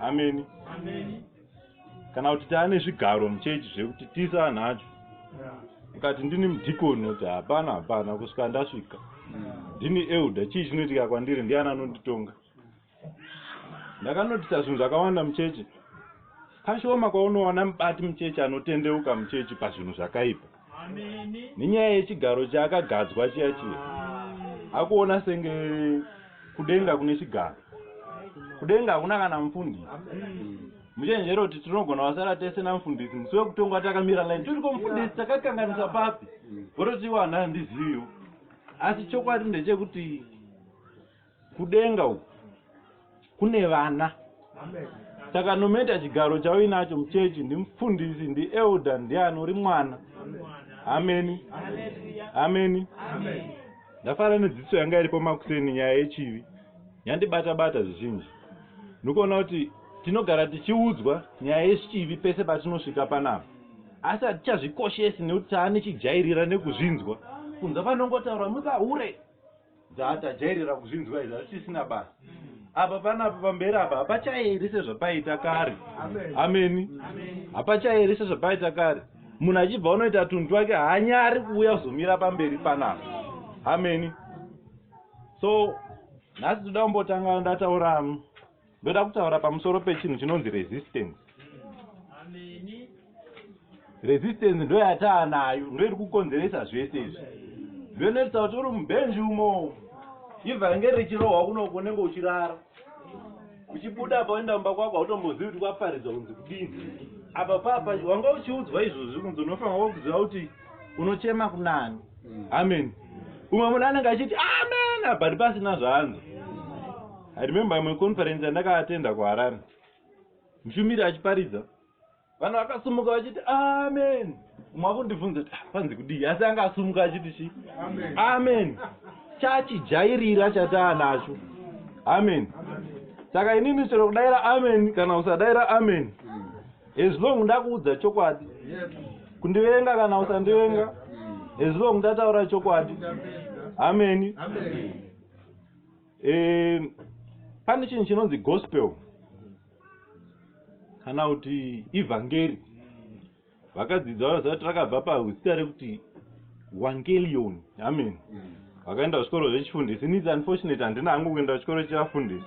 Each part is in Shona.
ameni kana kuti taa nezvigaro muchechi zvekuti tisa anhu acho ukati ndini mudhikoni kuti hapana hapana kusvika ndasvika ndini elda chii chinoitika kwandiri ndiani anonditonga ndakanotisa zvinhu zvakawanda muchechi kashoma kwaunoona mubati muchechi anotendeuka muchechi pazvinhu zvakaipa nenyaya yechigaro chaakagadzwa chiya chiya akuona senge kudenga kune chigaro kudenga hakuna kana mufundisi muchenjero kuti tinogona vasara tese namufundisi musi wekutongwa takamira line tiriko mufundisi takakanganisa papi vototiwana ndiziviwo asi chokwadi ndechekuti kudenga uku kune vana saka nometa chigaro chauinacho muchechi ndimufundisi ndielder ndiani uri mwana ameni ameni ndafara nedziso yanga iripo makuseni nyaya yechivi yandibata bata zvizhinji ndikuona kuti tinogara tichiudzwa nyaya yechivi pese patinosvika panapa asi hatichazvikoshesi nekuti taane chijairira nekuzvinzwa kunza panongotaura mubahure Dza tajairira kuzvinzwa izvi hazvisisina basa. Apa panapa pamberi apa hapachaeri sezvapaita kare. Ameni. Hapachaeri sezvapaita kare. Munhu achibva unoita tunhu twake haanyari kuuya kuzomira pamberi panapa. Ameni. So nhasi toda kumbotanga ndataura ndoda kutaura pamusoro pechinhu chinonzi resistance resistance ndoyataa nayo ndoiri kukonzeresa zvese izvi zvinoitisa kuti uri mubenji umo ibva ringe richirohwa kunoko unenge uchirara uchibuda apa uenda mumba kwako hautombozivi kuti kwaparidzwa kunzi kudini apa papa wanga uchiudzwa izvozvi kunzi unofanira wakuziva kuti unochema kunani amen umwe munhu anenge achiti amen abati pasina zvaanzi I remember imwe conference yandakaattenda kuharare mushumiri achiparidza vanhu vakasumuka vachiti amen umwe akundibvunza kuti ah, panzi kudii asi anga asumuka achiti chi amen chachijairira chataa nacho amen saka inini chero kudaira amen kana usadaira amen as long ndakuudza chokwadi kundivenga kana usandivenga as long ndataura chokwadi ameni, ameni. ameni. eh, pane chinhu chinonzi gospel kana kuti evhangeri vakadzidza vanozati rakabva pazita rekuti wangelion amen vakaenda kuchikoro zvechifundisi nits unfortunate handina hangu kuenda kuchikoro chevafundisi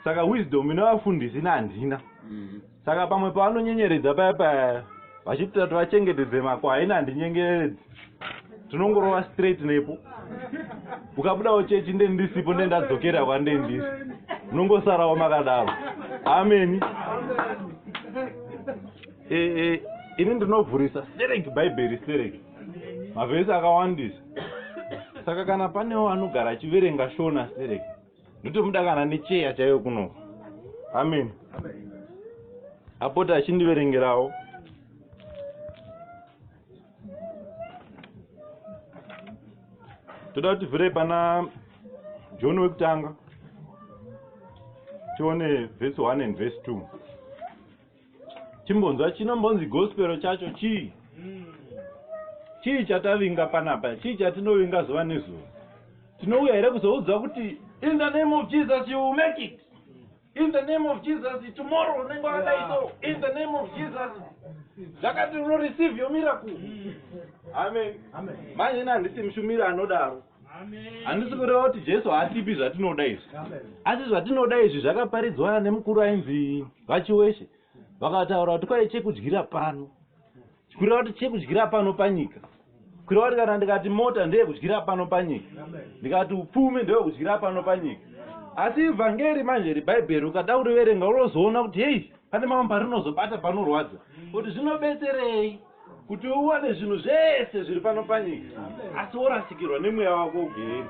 saka wisdom ine vafundisi nehandina mm -hmm. saka pamwe pavanonyenyeredza paya paya vachiti tati vachengetedze makwaini handinyengeredzi tinongorova straight nepo ukabudawo chechi nde ndisipo nde ndadzokera kwande ndisi munongosarawo makadaro ameni e, e, ini ndinovhurisa stereki bhaibheri stereki mavhesi akawandisa saka kana panewo anogara achiverenga shona stereki ndotomuda kana necheya chaiyo kuno amen apota achindiverengerawo toda kuti vhire pana john wekutanga tione vhesi 1 and vhesi 2 chimbonzwa chinombonzi gospero chacho chii chii chatavinga panapa chii chatinovinga zuva nezuva tinouya here kuzoudzwa kuti in the name of jesus you make it in the name of jesus tomorrow unenge wakadai so in the name of jesus zvakati unoreceive your miracle amen manje ina handisi mushumiri anodaro handisi kureva kuti jesu haatipi zvatinoda izvi asi zvatinoda izvi zvakaparidzwa nemukuru ainzi vachiweshe vakataura kuti kwai chekudyira pano kureva kuti chekudyira pano panyika kureva kuti kana ndikati mota ndeyekudyira pano panyika ndikati upfumi ndewekudyira pano panyika asi ivhangeri manje rebhaibheri ukada kuriverenga unozoona kuti hei pane mamwe parinozobata panorwadza kuti zvinobetserei kuti uwane zvinhu zvese zviri pano panyika asi worasikirwa nemweya wako ugeheni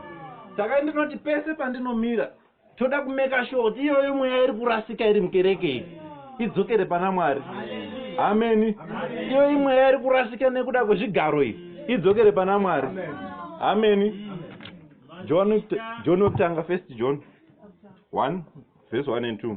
saka ndinoti pese pandinomira toda kumeka sure kuti iyoyo mweya iri kurasika iri mukereke iyi idzokere pana mwari ameni iyoyo imweya iri kurasika nekuda kwezvigaro iyi idzokere pana mwari ameni john john wekutanga first john 1 verse 1 and 2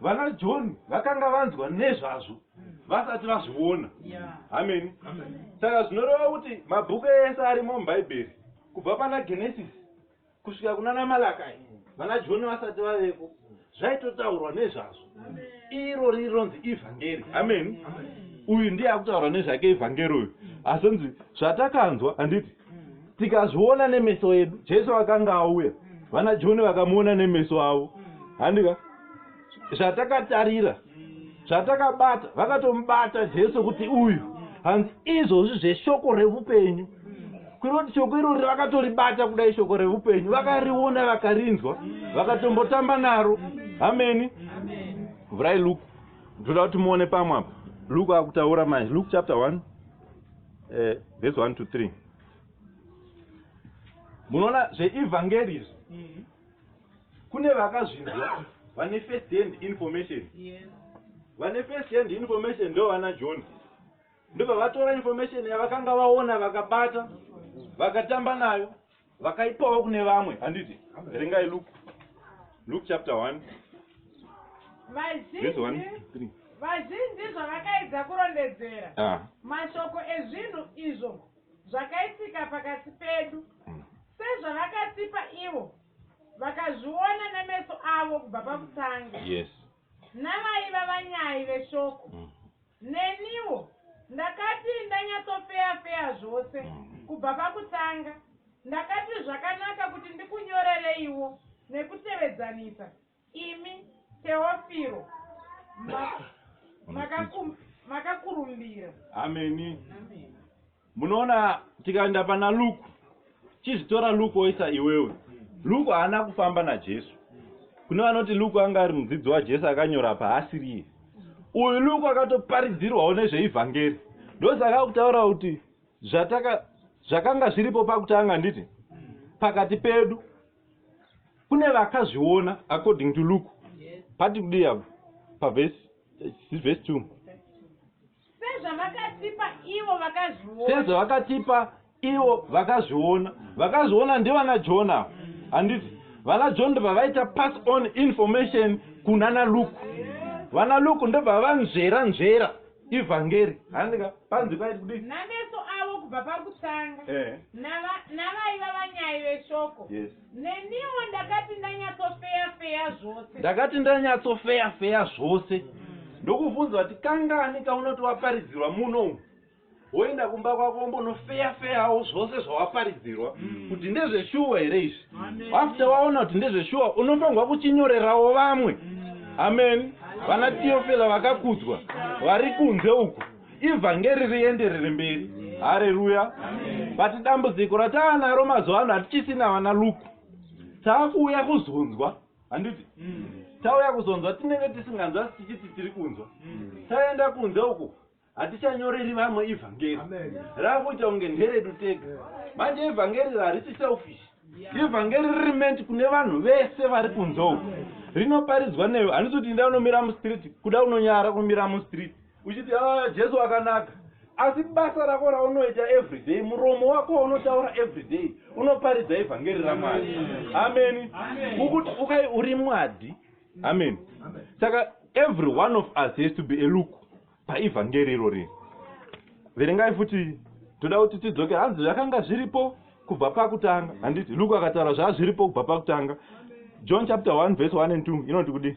Vana John vakanga vanzwa nezvazvo vasati vazviona. Ameni. Saka zvinoreva kuti mabhuku ese arimo muBhaibheri kubva pana Genesis kusvika kunana Malakai vana John vasati vavepo zvaitotaurwa nezvazvo. Iro rironzi ivhangeri. Ameni. Uyu ndiye akutaura nezvake ivhangeri uyu. Asi nzi zvatakanzwa handiti tikazviona nemeso edu jesu akanga auya vana joni vakamuona nemeso avo handika zvatakatarira zvatakabata vakatomubata jesu kuti uyu hanzi izvozvi zveshoko reupenyu kuroti shoko irori vakatoribata kudai shoko reupenyu vakariona vakarinzwa vakatombotamba naro ameni vhurai luke ndoda kuti muone pamwe apa luke akutaura manje luke chapter one eh, verse 1 to 3 munoona zveevhangeri izvi mm-hmm. kune vakazvinzwa vane first hand information vane first hand information ndo vana john ndobva vatora information yavakanga vaona vakabata vakatamba nayo vakaipawo kune vamwe handiti verengai luke luke chapter 1 vazhinji vazhinji zvavakaedza kurondedzera ah. mashoko ezvinhu izvo zvakaitika pakati pedu hmm. sezvavakatipa ivo vakazviona nemeso avo kubva pakutanga yes navaiva vanyai veshoko mm. Neniwo ndakati ndanyatsofeya feya zvose kubva pakutanga ndakati zvakanaka kuti ndikunyorereiwo nekutevedzanisa imi Teofiro makakurumbira. Ameni. munoona tikaenda pana luku chizvitora luku oisa iwewe luku haana kufamba najesu kune vanoti luku anga ari mudzidzi wajesu akanyora apa haasiriye uyu luku akatoparidzirwawo nezveivhangeri ndosaka kutaura kuti zvataka zvakanga zviripo pakutanga nditi pakati pedu kune vakazviona according to luke pati kudii apo pavhesi eh, vhesi two sezvavakatipa ivo vakazviona sezvavakatipa ivo vakazviona vakazviona ndivana john avo handiti vana john ndobvavaita pass on information kunana luke vana luke ndobvavanzvera nzvera ivhangeri handika panzi kwaiti kudii nameso avo kubva pakutanga eh. navaiva vanyai veshoko yes. Neniwo ndakati ndanyatsofeya feya zvose. Ndakati ndanyatsofeya feya zvose. Mm. Ndokuvunza kuti kangani kaunoti waparidzirwa muno umu. Woenda kumba kwako wombonofeya feyawo zvose zvawaparidzirwa mm. kuti ndezveshuwa here izvi. After waona kuti ndezveshuwa unofanirwa kuchinyorerawo vamwe. Mm. Amen. Vana Tiofila vakakudzwa vari kunze uku. ivhangeri rienderere mberi hareruya but dambudziko rataa naro mazuva ano hatichisina vana luku taakuuya kuzonzwa handiti mm. tauya kuzonzwa tinenge tisinganzwa tichiti tiri kunzwa mm. taenda kunze uku hatichanyoreri vamwe ivhangeri raakuita kunge nderedu tega manje ivhangeri rarisi selfish ivhangeri riri meant kune vanhu vese vari kunze uku rinoparidzwa newe handisi kuti inda unomira mustreet kuda unonyara kumira mustreet uchiti aa jesu akanaka asi basa rako raunoita everyday muromo wako waunotaura everyday unoparidza evhangeri ramwari ameni ukuti ukai uri mwadi ameni saka every one of us has to be a look paevhangeri irori verengai futi toda kuti tidzoke hanzi zvakanga zviripo kubva pakutanga handiti luke akataura zvaa zviripo kubva pakutanga john chapter 1 verse 1 and 2 inoti kudii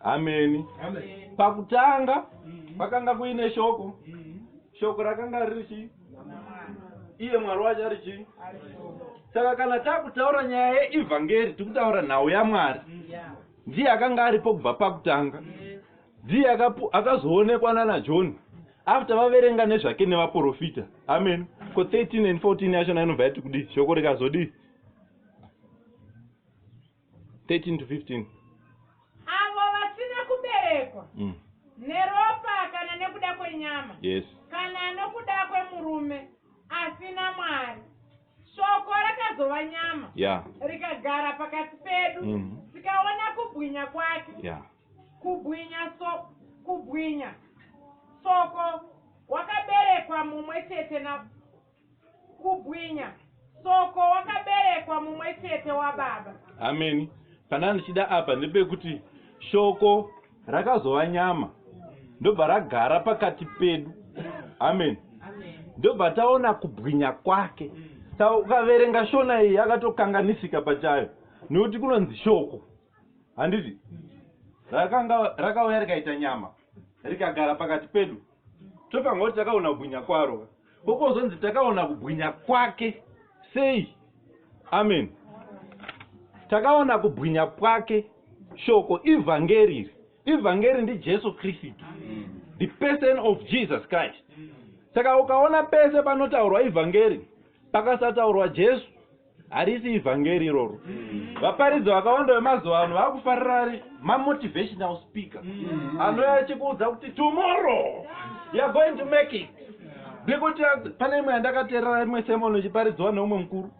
ameni pakutanga pakanga kuine shoko shoko rakanga riri chii iye mwari wacho ari chii saka kana takutaura nyaya yeevhangeri tikutaura nhau yamwari ndiye akanga aripo kubva pakutanga ndiye akazoonekwa nana john after vaverenga nezvake nevaprofita amen ko 13 and 14 yachona inobva yati kudii shoko rikazodii 13 to 15 avo vasina kuberekwa mm. neropa kana nekuda kwenyama yes. kana nokuda kwemurume asina mwari shoko rakazova nyama yeah. rikagara pakati pedu mm -hmm. tikaona kubwinya kwake yeah. kubwinya so kubwinya soko wakaberekwa mumwe chete na Kubwinya. Soko wakaberekwa mumwe chete wababa. Ameni. Pana ndichida apa ndepekuti shoko rakazova nyama ndobva ragara pakati pedu. Ameni. Ndobva taona kubwinya kwake. Saka ukaverenga shona iyi yakatokanganisika pachayo nekuti kunonzi shoko. Handiti? Rakanga rakauya rikaita nyama rikagara pakati pedu. tobva ngoti takaona kubwinya kwaro kokozonzi takaona kubwinya kwake sei amen takaona kubwinya kwake shoko ivhangeri iri ivhangeri ndijesu kristu the person of jesus christ saka ukaona pese panotaurwa ivhangeri pakasataurwa jesu harisi ivhangeri iroro vaparidzi vakawanda vemazuva ano vakufarira ari mamotivational speaker mm. anouya achikuudza kuti tomorrow youare going to make it nekuti pane imwe yandakaterera imwe semono ichiparidziwa neumwe mukuru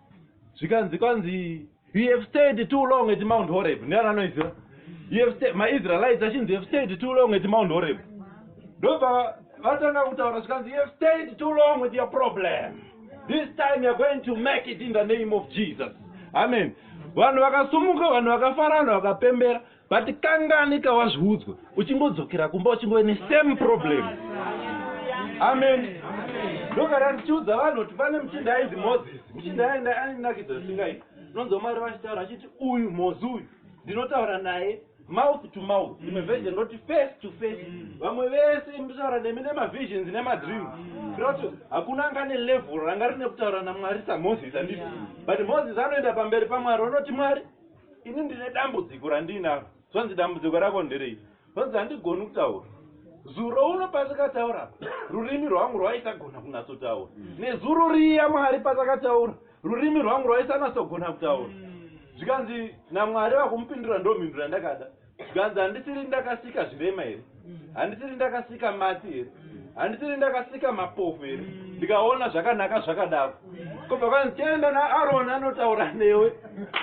zvikanzi kwanzi you have stayed too long at mount horeb ndiani anoiziva maisraelites achinzi have stayed too long at mount horeb ndobva vatanga kutaura zvikanzi you have stayed too long with your problem this time you're going to make it in the name of jesus amen vanhu vakasumuka vanhu vakafara vanhu vakapembera but kangani kawazviudzwa uchingodzokera kumba uchingove nesame problem amen ndogara ndichiudza vanhu kuti pane muchinda ainzi moses muchinda ainakidza zvisingaiti unonzwa mwari vachitaura achiti uyu mozi uyu ndinotaura naye Mouth to mouth rimwe version roti face to face vamwe vese mutaura nemi nemavisions nemadream kuitira kuti hakuna anga ane level ranga rine kutaura namwari samoses handiti but moses anoenda pamberi pamwari onoti mwari ini ndine dambudziko randiinaro zvanzi dambudziko rako nderei zvanzi handigoni kutaura zuro uno patakataura rurimi rwangu rwaisagona kunatsotaura nezuro riya mwari patakataura rurimi rwangu rwaisanatsogona kutaura mm. zvikanzi namwari vakumupindura ndomhinduro yandakada zvikanzi handisiri ndakasika zvirema here mm. handisiri ndakasika matsi here mm. handisiri ndakasika mapofu here ndikaona zvakanaka zvakadako kobva kwanzi tienda naaroni anotaura newe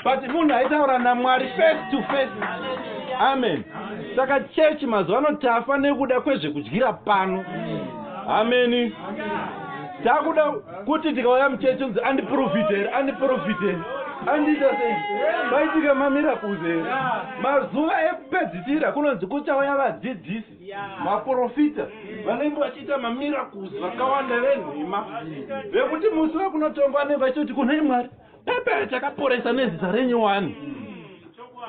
but munhu aitaura namwari face to face amen saka chechi mazuva ano tafa nekuda kwezvekudyira pano ameni takuda kuti tikauya muchechi unzi andiprofite here andiprofite here andiita sei vaitika mamiracles here mazuva ekupedzisira kunonzi kuchauya vadzidzisi maprofita vanenge vachiita mamiracles vakawanda venhema vekuti musi vekunotongwa anenge vachitoti kunei mwari pepe chakaporesa nezita renyu wani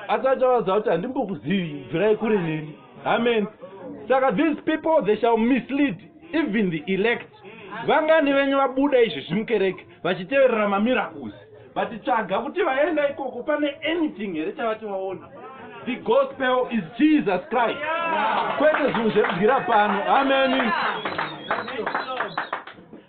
asi achavaudza kuti handimbokuzivi bvirai kure neni amen saka these people they shall mislead even the elect vangani venyu vabuda izvi zvimukereke vachiteverera mamiracles vatitsvaga kuti vaenda ikoko pane anything here chavati vaona the gospel is jesus christ kwete zvinhu zvekubwira pano ameni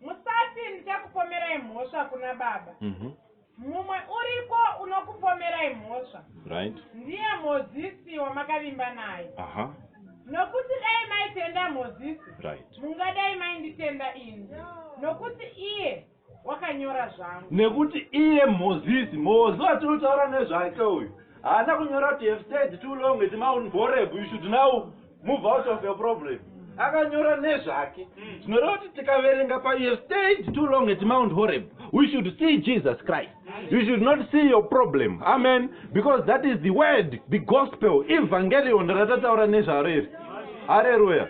Musati ndichakupomerai mhosva kuna baba. Mhm. Mumwe uriko unokupomerai mhosva. Right. Ndiye Mozisi wamakavimba naye. Aha. Nokuti dai maitenda Mozisi. Right. Mungadai mainditenda ini. Nokuti iye wakanyora zvangu nekuti iye mozisi mozi watinotaura nezvake uyu haana kunyora kuti have said too long iti maunborebu you should now move out of your problem akanyora nezvake hmm. tinoreva kuti tikaverenga pa you stayed too long at mount horeb we should see jesus christ you should not see your problem amen because that is the word the gospel evangelion ratataura nezvaro iri hareruya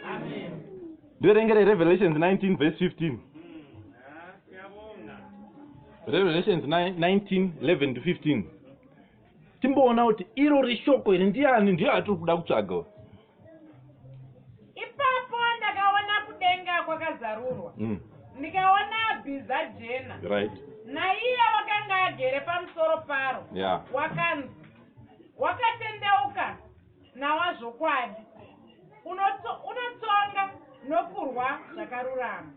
ndoerengere revelations 19 vese 15 revelations 19 11 to 15 timboona kuti iro reshoko iri ndiani ndiyo atiri kuda kutsvaga ipapo ndakaona kudenga kwakazarurwa mm. ndikaona bhiza jena right naiye wakanga agere pamusoro paro yeah. wakanzi wakatendeuka nawa zvokwadi unotsonga nokurwa zvakarurama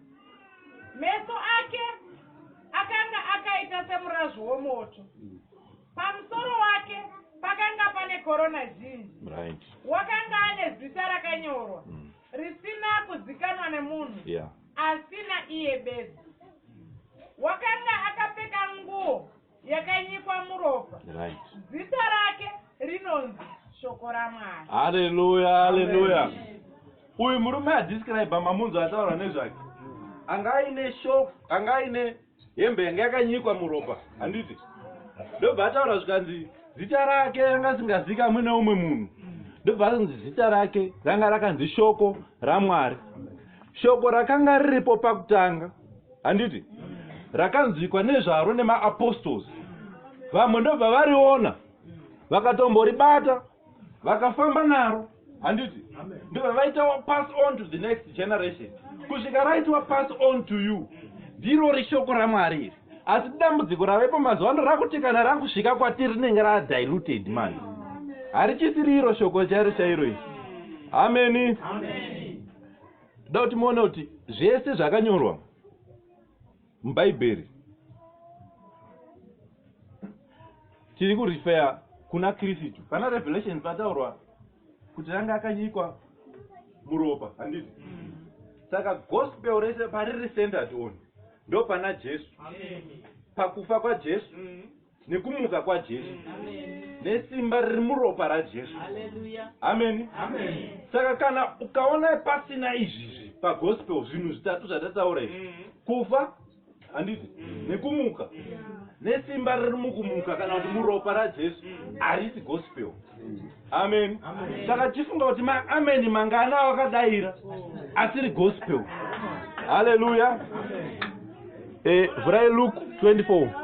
meso ake akanga akaita semurazvo womoto mm. Pamusoro wake pakanga pane korona zhinji. Right. Wakanga ane zita rakanyorwa mm. risina kuzikanwa nemunhu yeah. asina iye bedzi. Wakanga akapfeka nguo yakanyikwa muropa. Right. Zita rake rinonzi shoko ramwari haleluya haleluya uyu murume adescribe mamunzo ataura nezvake anga aine shoko anga aine hembe yanga yakanyikwa muropa handiti ndobva ataura zvikanzi zita rake yanga asingazikamwe neumwe munhu ndobva anzi zita rake ranga rakanzi shoko ramwari shoko rakanga riripo pakutanga handiti rakanzwikwa nezvaro nemaapostols vamwe ndobva variona vakatombori bata vakafamba naro handiti ndobva vaita wapass on to the next generation kusvika raiti wapass on to you ndiro rishoko ramwari iri asi dambudziko ravepo mazuva ano rakuti kana rakusvika kwatiri rinenge radiluted mani harichisiri iro shoko chairo chairo iri ameni da kuti muone kuti zvese zvakanyorwa Mubhaibheri tiri kurifeya kuna Kristu. Pana Revelation pataurwa kuti anga akanyikwa muropa, handiti? Saka gospel rese pariri centered on ndopana Jesu, pakufa kwaJesu nekumuka kwajesu nesimba riri muropa rajesu ameni saka kana ukaona pasina izvizvi pagospel zvinhu zvitatu zvatataura izvi mm. kufa handiti mm. nekumuka nesimba riri mukumuka kana kuti muropa rajesu mm. harisi gospel ameni saka tichifunga kuti maameni mangana awakadaira asiri gospel haleluya eh, vhurai luke 24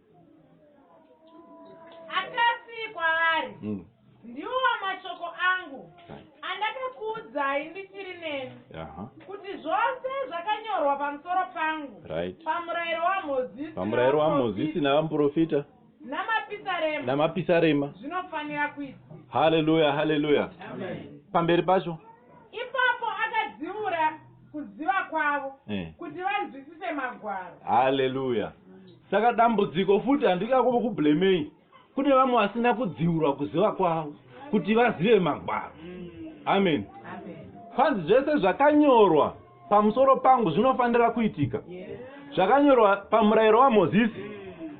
akati kwaari mm. ndiwo mashoko angu andakakuudzai ndichiri neni kuti zvose zvakanyorwa pamusoro pangu pamurayiro wamozisi pamurayiro wamozisi navamuprofita namapisarema namapisarema zvinofanira kuita haleluya haleluya pamberi pacho Ipapo akadziura kuziva kwavo eh. kuti vanzwisise magwaro. Haleluya. Saka dambudziko futi handikakuva kublemei. Kune vamwe vasina kudziurwa kuziva kwavo kuti vazive magwaro. Amen. Kwanzi zvese zvakanyorwa pamusoro pangu zvinofanira kuitika zvakanyorwa pamurayiro wamozisi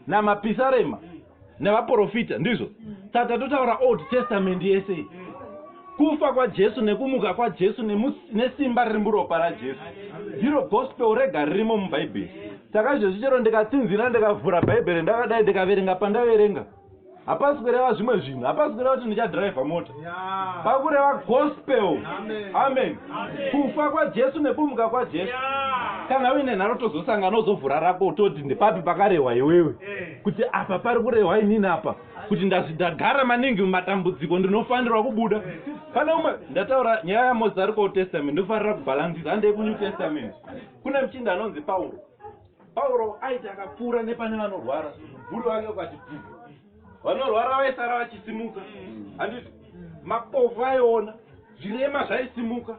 namapisarema nevaprofita ndizvo saka totaura old testament yese kufa kwajesu nekumuka kwajesu nesimba riri muropa rajesu ndiro gospel rega ririmo mubhaibheri saka izvezvi chero ndikatsinzina ndikavhura bhaibheri ndakadai ndikaverenga pandaverenga hapasi kureva zvimwe zvinhu hapasi kureva kuti ndichadriver mota pakureva gospel amen kufa kwajesu nekumuka kwajesu kana uine nharo tozosangana uzovhura rako utoti ndepapi pakarehwa iwewe eh. kuti apa pari kurehwa inini apa kuti ndazvidagara maningi mumatambudziko ndinofanirwa kubuda eh. pane umwe ndataura nyaya yamosi ari kuold testament ndofanira kubhalansisa handei kunew testament kune muchinda anonzi pauro Pauro aiti akapfuura nepane vanorwara, mubvuri wake ukati bvuu. Vanorwara vaisara vachisimuka, handiti mapofu aiona, zvirema zvaisimuka.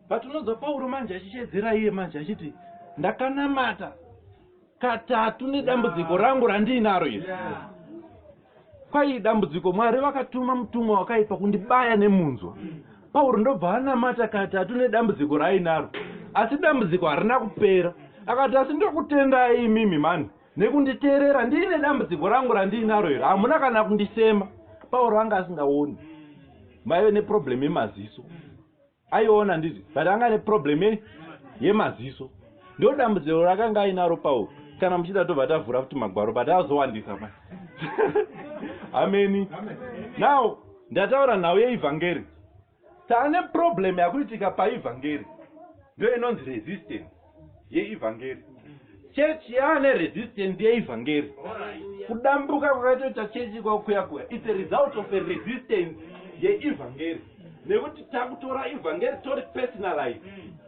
Patinonzwa Pauro manje achishedzera iye manje achiti ndakanamata katatu nedambudziko rangu randiinaro iri. Kwai dambudziko Mwari vakatuma mutumwa wakaipa kundibaya nemunzwa. Pauro ndobva anamata katatu nedambudziko raainaro. Asi dambudziko harina kupera. Akati asi ndokutendai imimi mani nekunditeerera ndiine dambudziko rangu randiinaro iri hamuna kana kundisema. Pauro anga asingaoni. Maive neproblem yemaziso. aiona ndizvi but anga ane problem ye yemaziso ndo dambudziro rakanga ainaro pauro kana muchida tobva tavhura futi magwaro but azowandisa ma ameni now ndataura nhau yeevhangeri taane problem yakuitika paevhangeri ndo inonzi resistance yeivhangeri chechi yaane resistant yeivhangeri kudambuka kwakaitoita chechi ikoko kuya kuya its a result of a resistance yeivhangeri nekuti takutora ivhangeri tori personalize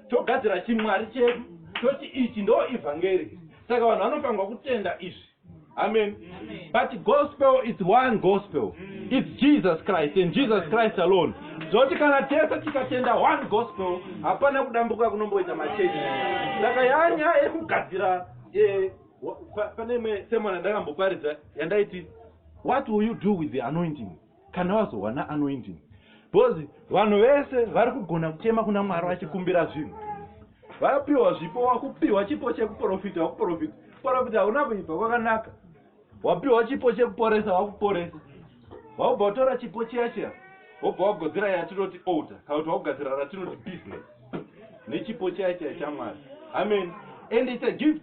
togadzira chimwari chedu toti ichi ndo ivhangeri saka vanhu vanofanirwa kutenda izvi amen but gospel is one gospel its jesus christ and jesus christ alone zoti kana tese tikatenda one gospel hapana kudambuka kunomboita machechi saka yanya yekugadzira eh, pane imwe semana ndakamboparidza yandaiti what will you do with the anointing kana wazowana anoinding because vanhu vese vari kugona kuchema kuna mwari vachikumbira zvinhu vapiwa zvipo wakupiwa chipo chekuprofita wakuprofita profita hauna kuibva kwakanaka wapiwa chipo chekuporesa wakuporesa waubva watora chipo chiya chiya wobva wagodzera yatinoti older kana kuti wakugadzira ratinoti business nechipo chiya chiya chamwari amen and its a gift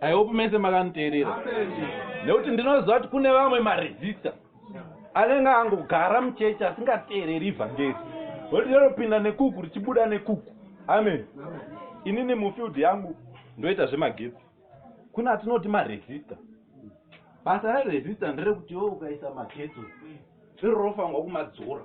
i hope mese makanditeerera nekuti ndinoziva kuti kune vamwe maresista anenge angogara muchechi asingateereri ivhangeri voti rinopinda nekuku richibuda nekuku amen inini mufield yangu ndoita zvemagetsi kune atinoti maresista basa reresista nderekuti wo ukaisa magetsi iro rofanirwa kumadzora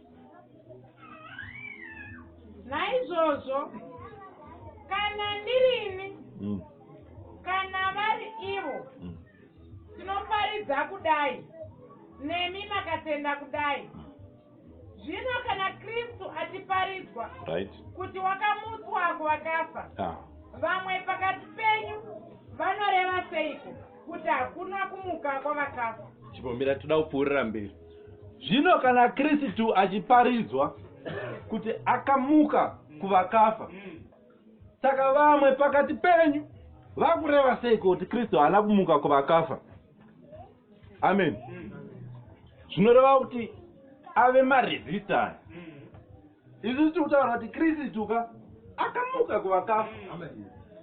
naizvozvo kana ndirini mm. kana vari ivo mm. tinoparidza kudai nemi makatenda kudai mm. zvino kana kristu atiparidzwa right. kuti wakamutswa kuvakafa ah. vamwe pakati penyu vanoreva seiko kuti hakuna kumuka kwavakafa chipomera toda kupfuurira mberi zvino kana kristu achiparidzwa kuti akamuka kuvakafa saka vamwe pakati penyu vakureva sei kuti kristu haana kumuka kuvakafa amen zvinoreva kuti ave maresistance isu tiri kutaura kuti kristu ka akamuka kuvakafa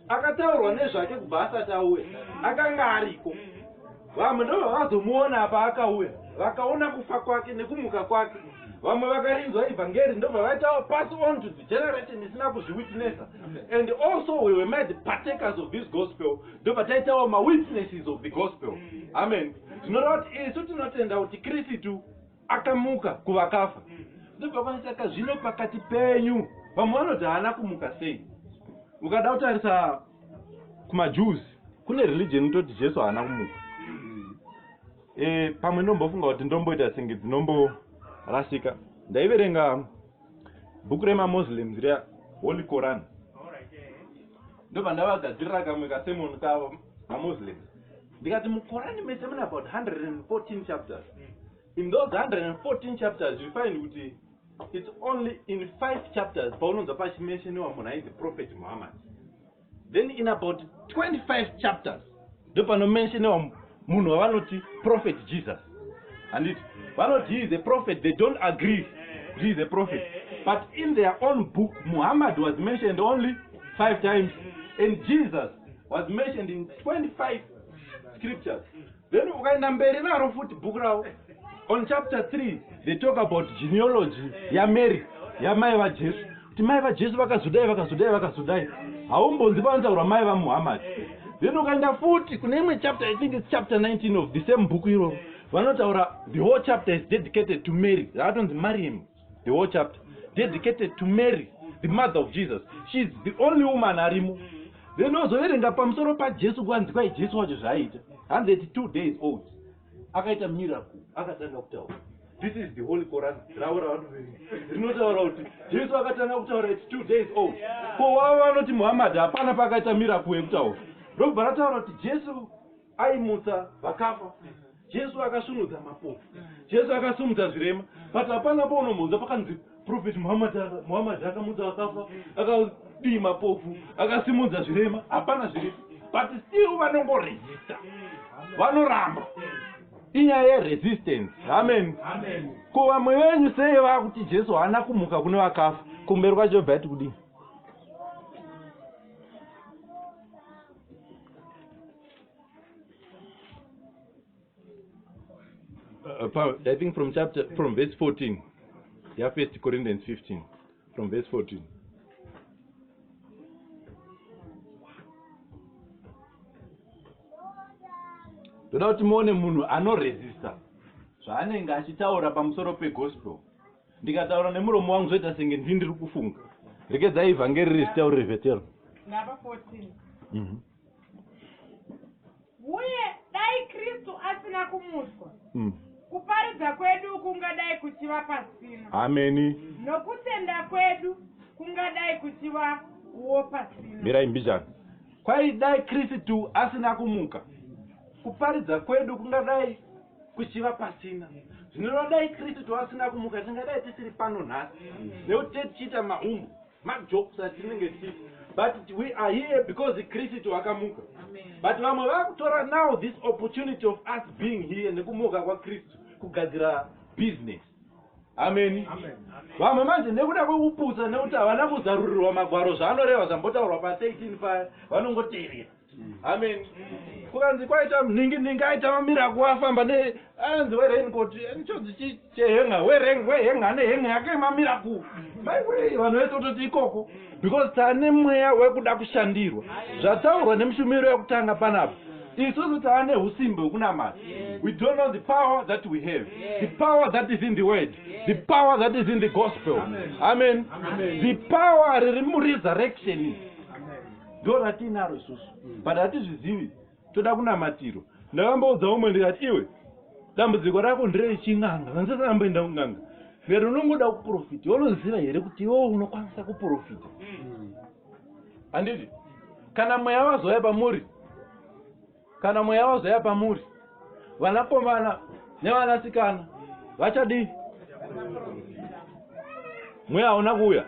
akataurwa nezvake kubva asati auya akanga ariko vamwe ndo vavazomuona apa akauya vakaona kufa kwake nekumuka kwake vamwe vakarinzwa evhangeri ndobva vaitawo pass on to the generation isina kuzviwitnessa and also we were made partakers of this gospel ndobva taitawo mawitnesses of the gospel amen zvinoreva kuti isu tinotenda kuti kristu akamuka kuvakafa ndobva kwanisaka zvino pakati penyu vamwe vanoti haana kumuka sei ukada kutarisa kumajuzi kune religion inototi jesu haana kumuka e, pamwe ndombofunga kuti ndomboita senge dzinomborasika ndaiverenga bhuku remamuslims riya holy coran ndobva ndavagadzirira kamwe kasemon kavo mamuslims ndikati mukorani mese mune about 114 chapters in those 114 chapters you find kuti its only in five chapters paunonzwa pachimensheniwa munhu ainzi prophet muhammad then in about 25 chapters ndopanomensheniwa munhu wavanoti prophet jesus handiti vanoti he is a prophet they don't agree he is a prophet but in their own book muhammad was mentioned only five times and jesus was mentioned in 25 scriptures then ukaenda mberi naro futi bhuku ravo on chapter 3 they talk about genealogy yamary yamai vajesu kuti mai vajesu vakazodai vakazodai vakazodai haumbonzi panotaurwa mai vamuhammadi then ukaenda futi kune imwe chapter i think its chapter 19 of the same bhuku iroro vanotaura the whole chapter is dedicated to mary rakatonzi mariam the whole chapter dedicated to mary the mother of jesus sheis the only woman arimo then ozoverenga pamusoro pajesu kwanzi kwai jesu wacho zvaaita hanzi ati two days old akaita miracle akatanga kutaura this is the holy coran ravo ravanoverenga rinotaura kuti jesu akatanga kutaura ati two days old ko wavo vanoti muhammad hapana paakaita miracle yekutaura ndobva rataura kuti jesu aimutsa vakafa jesu akasunudza mapofu jesu akasimudza zvirema but hapana paunomhonza pakanzi prophet muhammad akamudza vakafa akadii mapofu akasimudza zvirema hapana zviri but still vanongoresista vanoramba inyaya yeresistance amen ko vamwe venyu sei vakuti jesu haana kumuka kune vakafa kumberi kwacho bva yati kudii Uh, Paul, I think from chapter from verse 14. Yeah, First Corinthians 15, from verse 14. ndoda kuti muone munhu anoresista zvaanenge achitaura pamusoro pegospel ndikataura nemuromo wangu zvoita senge ndii ndiri kufunga rekedzai ivhangeri riri zitaurire vetero ndava 14 mm -hmm. uye dai kristu asina kumuswa mm. kuparidza kwedu kungadai kuchiva pasina ameni nokutenda kwedu kungadai kuchiva uwo pasina mirai mbijana kwai dai kristu asina kumuka kuparidza kwedu kungadai kuchiva pasina zvinoreva dai kristu toasina kumuka tingadai tisiri pano nhasi nekuti te tichiita maumbu majokes atinenge tichiita but we are here because kristu akamuka but vamwe vakutora now this opportunity of us being here nekumuka kwakristu kugadzira business ameni vamwe manje nekuda kwekupusa nekuti havana kuzarurirwa magwaro zvaanoreva zvambotaurwa pa 13 paya vanongoteerera amen kukanzi kwaita mningi ningi aita mamira kuafamba ne anzi werenkot chodzi chehenga wereng wehenga ane henga yake mamira ku maiwei vanhu vese ototi ikoko because tane mweya wekuda kushandirwa zvataurwa nemushumiro yekutanga panapa isusu taane usimbe hwekunamata we don't know the power that we have the power that is in the word the power that is in the gospel amen the power riri muresurrection ndo ratiinaro isusu mm. but hatizvizivi toda kunamatirwa ndakamboudza umwe ndikati iwe dambudziko rako nderei chin'anga vanzisakamboenda kun'anga vero unongoda kuprofita unoziva here kuti iwewo unokwanisa kuprofita mm. handiti kana mweya wazouya pamuri kana mweya wazouya pamuri vanakomana nevanasikana vachadii mweya hauna kuuya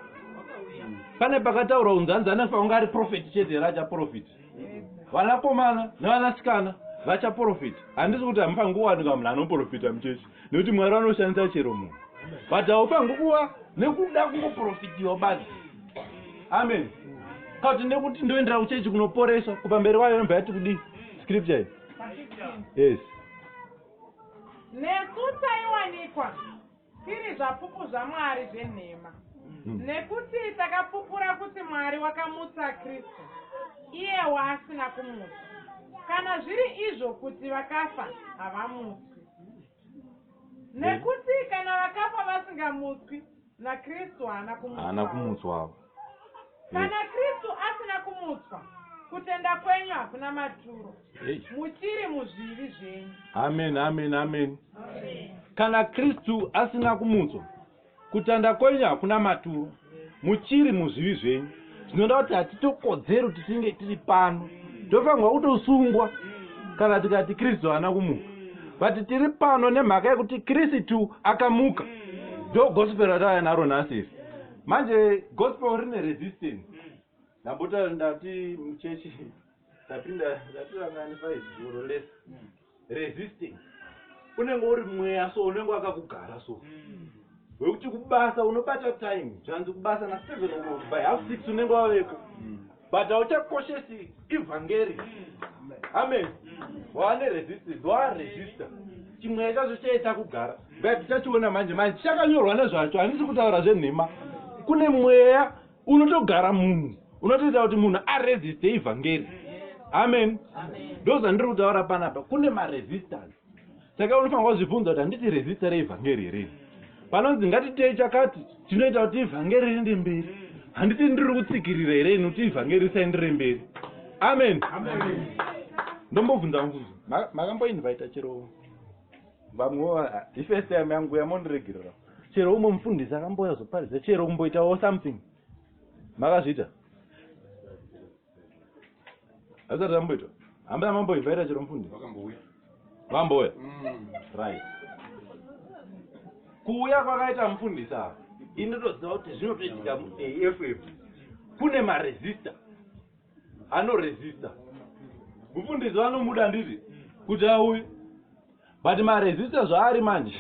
pane pakataurwa unzanzi anefa unga ari profeti chete here achaprofiti vanakomana nevanasikana vachaprofita handisi kuti hamufanguwanika munhu anoprofita muchechi nekuti mwari vanoshandisa chero munhu but haufangi kuva nekuda kungoprofitiwa basi amen ka kuti nekuti ndoendera kuchechi kunoporeswa kupamberi kwayo nobva yati kudii scripture yes nesu taiwanikwa tiri zvapupu zvamwari zvenhema hmm. nekuti takapupura kuti mwari wakamutsa kristu iye waasina kumutsa kana zviri izvo kuti vakafa havamuti Nekuti kana vakafa vasingamutswi, naKristu haana kumutswa. Haana kumutswa. Kana Kristu asina kumutswa, kutenda kwenyu hakuna maturo. Muchiri muzvivi zvenyu. Amen, amen, amen. Kana Kristu asina kumutswa, kutanda kwenyu hakuna maturo muchiri muzvivi zvenyu zvinoda kuti hatitokodzero titinge tiri pano tofanirwa kutosungwa kana tikati kristu haana kumuka vati tiri pano nemhaka yekuti kristu akamuka ndo gospel ratauya naro nhasi iri manje gospel rine resistance ndambota ndati muchechi ndapinda ndatirangani faizuro lese resisting unenge uri mweya so unenge wakakugara so mm. wekuti kubasa unobata time zvanzi kubasa na seven o'clock by half six unenge waveko mm. but hauchakoshesi evhangeri mm. amen waane resistance waaresista chimweya chacho chaita kugara but tichachiona manje manje chakanyorwa nezvacho handisi kutaura zvenhema kune mweya unotogara munhu unotoita kuti munhu aresiste evhangeri amen ndozvandiri kutaura panapa kune maresistance saka unofanira kuzvibvunza kuti handiti resista reevhangeri here panonzi ngatitei chakati chinoita kuti evhangeri riende mberi handiti ndiri kutsikirira here ini kuti evhangeri risaendere mberi amen ndombobvunza mubvunzo makamboinvaita chero vamwe ifirst time yangu yamondiregerera chero umwe mufundisi akambouya zoparidza chero kumboitawo something makazviita azvisati zvamboitwa hambaa mamboivhaita chero mufundisi vambouya mm. right kuuya kwakaita mufundisi ava inotoziva kuti zvinotoitika muaff kune maresista anoresista mufundisi vanomuda handiti kuti auye but maresista zvaari manje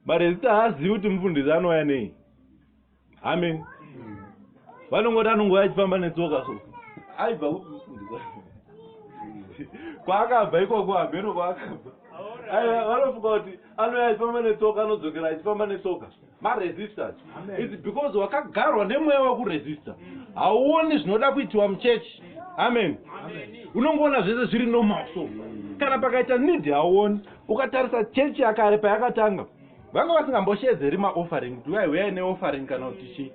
maresista haazivi kuti mufundisi anouya nei amen vanongoti anongouya achifamba netsoka so aibva kupi mufundisi kwaakabva ikoko hameno kwaakabva vanofunga kuti anouya achifamba netsoka anodzokera achifamba netsoka maresisters its because wakagarwa nemweya wekuresista hauoni zvinoda kuitiwa muchechi amen unongoona zvese zviri normal so kana pakaita need hauoni ukatarisa chechi yakare payakatanga vanga vasingamboshedzeri maoffering kuti uyai huyai neoffering kana kuti chii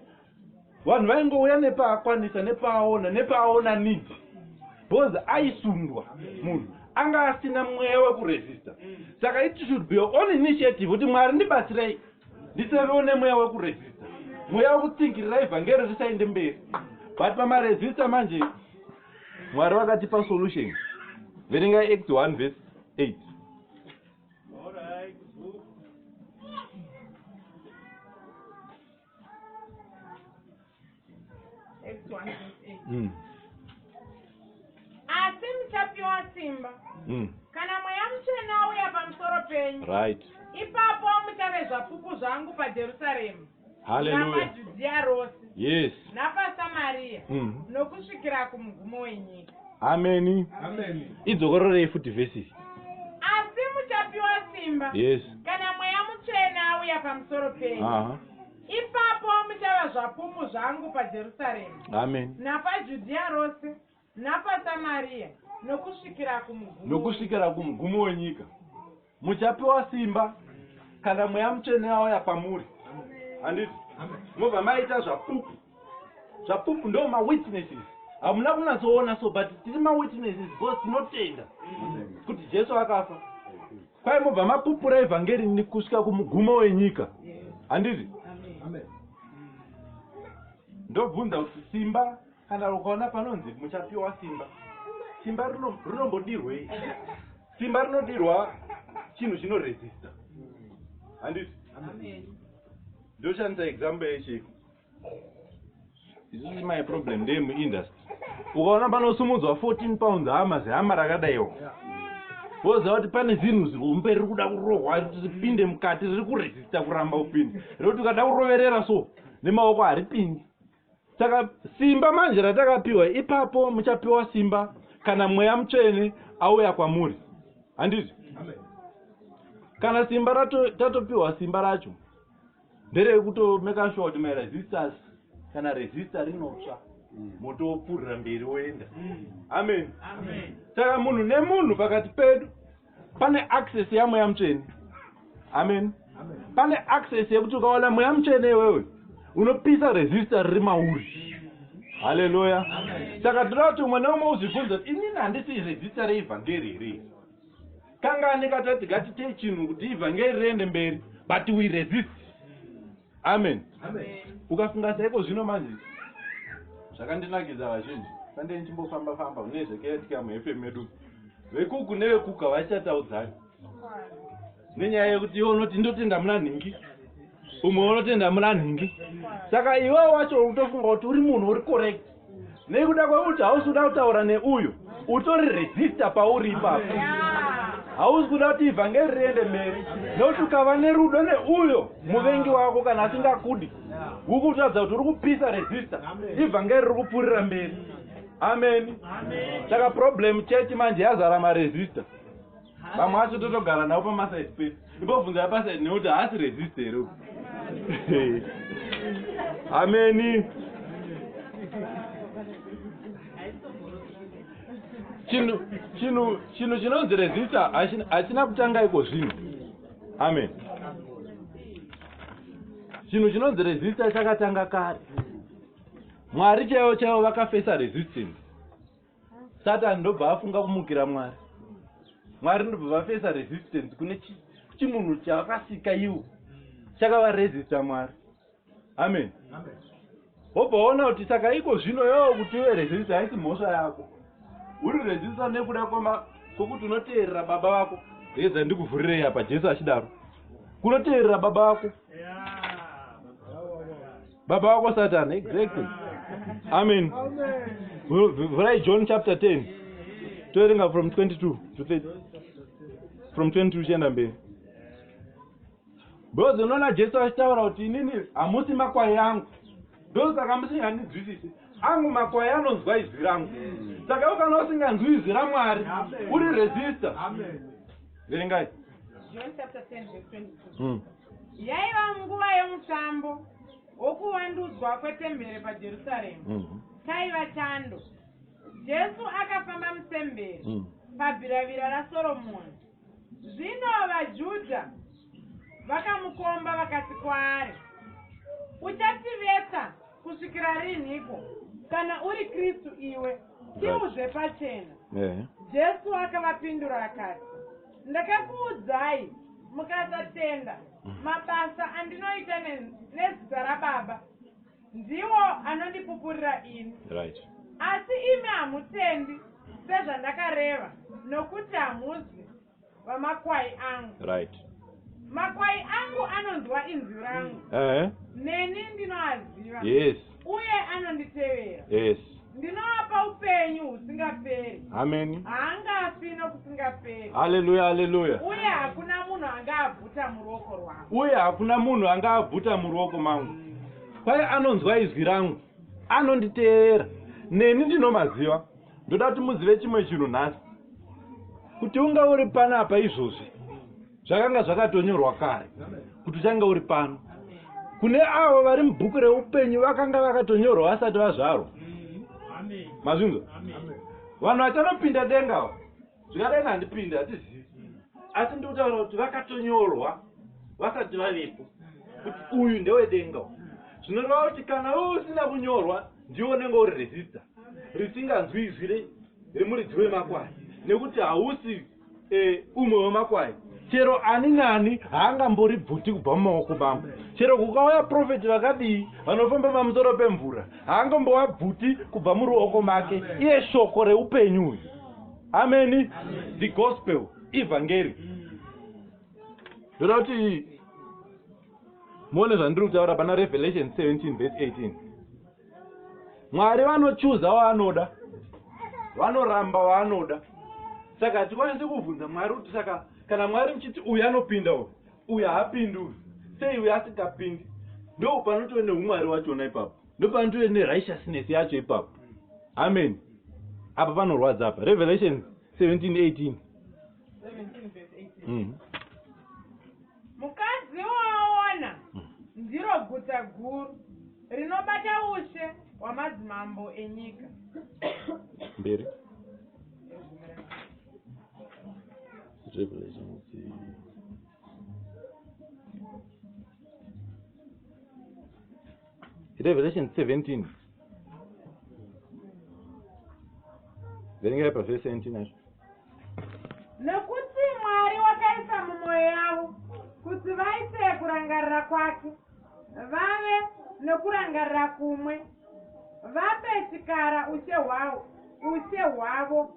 vanhu vaingouya nepaakwanisa nepaaona nepaaona need because aisundwa munhu anga asina mweya wekuresista saka it should be your own initiative kuti mwari ndibatsirei ndisavewo nemweya wekuresista mweya wekutsinkirira evhangeri risaende mberi but pamaresista manje mwari vakatipa solution verengai act 1 vese 8 All right. Mm. asi muchapiwa simba mm. kana mweya muchena uya pamusoro penyu right ipapo muchave zvapupu zvangu pajerusaremu haleluya rose yes napasamariya mm. nokusvikira kumugumo wenyika ameni idzokororei futi vhesi iyi asi muchapiwa simba yes kana mweya mutsvene auya pamusoro penyu ipapo muchava zvapupu zvangu pajerusarema amen napajudhiya rose napasamariya nokusvikira kumugumo wenyika muchapiwa simba kana mweya mutsvene auya pamuri handiti mobva maita zvapupu zvapupu ndo mawitnesses hamuna kunatsoona so but tiri mawitnesses because tinotenda kuti jesu akafa kwai mobva mapupura evhangeri nikusvika kumugumo wenyika handiti ndobvunza kuti simba Kana ukaona panonzi muchapiwa simba, simba rinombodirwei? Simba rinodirwa chinhu chino resista, handiti? Ndoshandisa example yechiiko isisi my problem ndeye muindustry ukaona panosumudzwa 14 pounds hama zihama rakadaiwo woziva kuti pane zinhu zihombe riri kuda kurohwa ripinde mukati riri kuresista kuramba kupinda rekuti ukada kuroverera so nemaoko haripindi saka simba manje ratakapiwa ipapo muchapiwa simba kana mweya mutsvene auya kwamuri handiti kana simba rato tatopiwa simba racho nderekutomeka sure kuti maresistance kana resista rinotsva moto wopfuurira mberi woenda amen saka munhu nemunhu pakati pedu pane access yamweya mutsvene amen pane access yekuti ukawana mweya mutsvene iwewe unopisa resistor riri mauri haleluya saka tinoda kuti umwe neumwe uzvibvunza kuti inini handisi resistor reevhangeri here kangani katati gatitei chinhu kuti ivhangeri riende mberi but we resist amen ukafunga saiko zvino manje zvakandinakidza vazhinji sandei ndichimbofamba famba une zvekaitika muhefe medu vekuku nevekuku havachataudzani nenyaya yekuti iwe unoti ndotenda muna nhingi umwe unotenda muna nhingi saka iwewo wacho utofunga kuti uri munhu uri correct nekuda kwekuti hausi kuda kutaura neuyu utori resista pauri ipapo hausi kuda kuti ivhangeri riende mberi nekuti ukava nerudo neuyo muvengi wako kana asingakudi uri kutadza kuti uri kupisa resista ivhangeri riri kupfuurira mberi ameni saka problem chechi manje yazara maresista vamwe vacho totogara navo pamasaidi pedu ibobvunza yapasaidi nekuti haasi resist here uku ameni chinhu chinhu chinhu chinonzi resista hachina kutanga iko zvinhu amen chinhu chinonzi resista chakatanga kare mwari chaivo chaivo vakafesa resistance satani ndobva afunga kumukira mwari mwari ndobva vafesa resistance kune chimunhu chakasika iwo chakavaresista mwari amen wobva waona kuti saka iko zvino yoo kuti iwe resista haisi mhosva yako uri resista nekuda kwekuti unoteerera baba vako heza ndikuvhurirei apa jesu achidaro kunoteerera baba vako yeah. baba wako satani exactly amen vhurai john chapter 10 toerenga from 22 to 30 from 22 chienda mberi because unoona jesu achitaura kuti inini hamusi makwai yangu ndosaka musinganizwisisi angu makwai anonzwa izwi rangu saka ukana usinganzwi izwi ramwari uri resista verengai John chapter 10 verse 22. Mm. Yaiva nguva yomutambo wokuwandudzwa kwetembere paJerusarema. Mhm. Chaiva chando. Jesu akafamba mutembere mhm. pabiravira raSoromoni. Zvino vaJudha vakamukomba vakati kwaari, Uchativetsa kusvikira rinhiko kana uri kristu iwe tiuzve pachena yeah. jesu akavapindura akati ndakakuudzai mukasatenda mm. mabasa andinoita nezita rababa ndiwo anondipupurira ini right. asi imi hamutendi sezvandakareva nokuti hamuzwi vamakwai angu right makwai angu anonzwa inzwi rangu uh -huh. neni ndinoaziva yes uye anonditevera yes ndinovapa upenyu husingaperi ameni haangafi nokusingaperi haleluya haleluya uye hakuna munhu angaabvuta muruoko rwangu uye hakuna munhu angaabvuta muruoko mangu kwaye anonzwa izwi rangu anonditeera neni ndinomaziva ndoda kuti muzive chimwe chinhu nhasi kuti unga uri panapa izvozvi zvakanga zvakatonyorwa kare kuti uchange uri pano kune avo vari mubhuku reupenyu vakanga vakatonyorwa vasati vazvarwa mazvinzwa vanhu vachanopinda denga ava Zvikadai handipinde hatizivi asi ndikutaura kuti vakatonyorwa vasati vavepo kuti uyu ndewedenga zvinoreva kuti kana wewe usina kunyorwa ndiwo unenge uri rezista risinganzwi izwi remuridzi wemakwai nekuti hausi eh, umwe wemakwai chero ani nani haangambori bvuti kubva mumaoko mangu chero kukauya profeti vakadii vanofamba pamusoro pemvura haangambova bvuti kubva muruoko make iye shoko reupenyu uyu ameni the gospel evhangeri ndoda kuti muone zvandiri kutaura pana revelation 17 vese 18 mwari vanochuza waanoda vanoramba waanoda saka hatikwanisi kubvunza mwari kuti saka kana mwari muchiti uyu anopinda uyu uyu haapindi uyu sei uyu asingapindi ndo panotove neumwari wachona ipapo ndopanotove nerighteousness yacho ipapo amen apa panorwadza apa revelations 1718 mm. mukadzi waona mm. ndiro guta guru rinobata ushe hwamadzimambo enyika mberi revelations Revelation 17 verengerai pavhesi 17 acho nekuti mwari wakaisa mumwoyo yavo kuti vaite kurangarira kwake vave nokurangarira kumwe vape chikara ushe hwavo ushe hwavo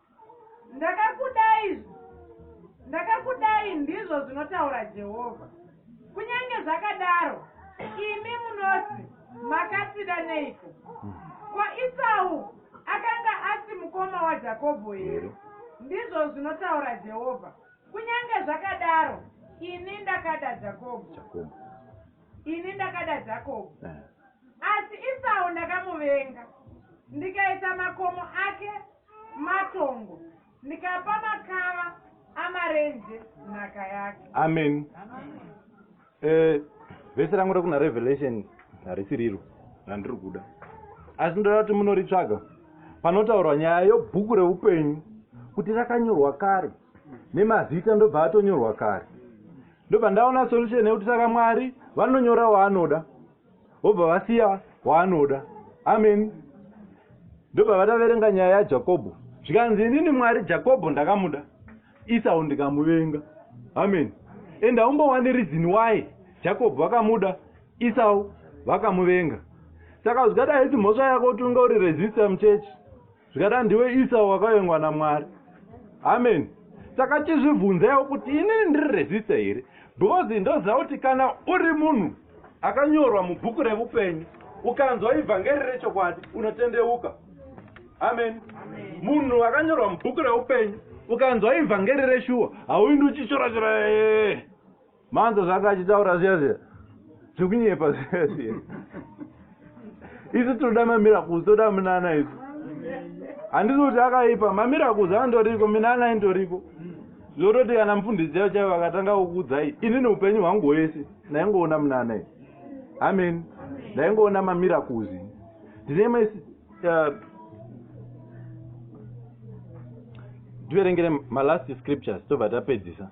Ndakakudai, ndakakudai, ndizvo zvinotaura Jehovha. Kunyange zvakadaro, imi munoti, Makatida neiko? Ko Isau akanga asi mukoma waJakobho here? Ndizvo zvinotaura Jehovha. Kunyange zvakadaro, ini ndakada Jakobho. Jakobho. Ini ndakada Jakobho. Eh. Asi Isau ndakamuvenga, ndikaisa makomo ake matongo ndikapa makava amarenje nhaka yake amen eh, vese rangu rekuna revelation harisi riro randiri kuda asi ndoda kuti munoritsvaga panotaurwa nyaya yobhuku reupenyu kuti rakanyorwa kare nemazita ndobva atonyorwa kare ndobva ndaona solution yekuti saka mwari vanonyora waanoda vobva vasiya waanoda amen ndobva vataverenga nyaya yajakobho zvikanzi inini mwari jakobho ndakamuda isau ndikamuvenga amen and haumbowani reason why jakobho vakamuda isau vakamuvenga saka zvikadai haisi mhosva yako kuti unge uri resistor muchechi zvikadaro ndiwe isau wakavengwa namwari amen saka chizvibvunzaiwo kuti inini ndiri resista here because ndoziva kuti kana uri munhu akanyorwa mubhuku reupenyu ukanzwa ivhangeri rechokwadi unotendeuka amen munhu akanyorwa mubhuku reupenyu ukanzwa ivhangeri reshuwa hauindi uchichorachora ee eh, eh, eh. manzwa zvaanga achitaura zviya zviya zvekunyepa zviya zviya isu tinoda mamirakuzi toda munana isu handisi kuti akaipa mamirakuzi andoriko minana indoriko zvototi kana mufundisi chaivo chaivo vakatanga kukudzai inini upenyu hwangu hwese ndaingoona munana i amen ndaingoona mamirakuzi ndine ma uh, tiverengere malast scriptures tobva tapedzisa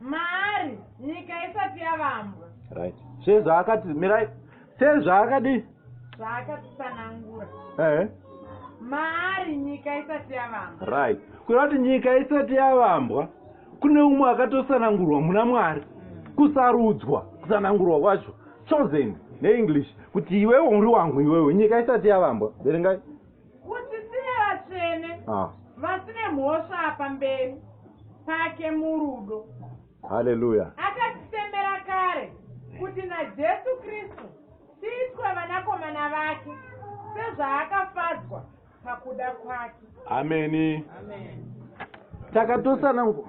maari nyika isati yavambwa right sezvaakati mirai sezvaakadii zvaakatisanangura ehe maari nyika isati yavambwa right kureva kuti nyika isati yavambwa kune umwe akatosanangurwa muna mwari mm. kusarudzwa kusanangurwa kwacho chosen neenglish kuti iwewe uri wangu iwewe nyika isati yavambwa verengai Kuti tive vatsvene, ah. vasine mhosva pamberi pake murudo. Haleluya. Akatisemera kare kuti naJesu Kristu tiitwe vanakomana vake sezvaakafadzwa pakuda kwake. Ameni. Amen. Takatosana ngo.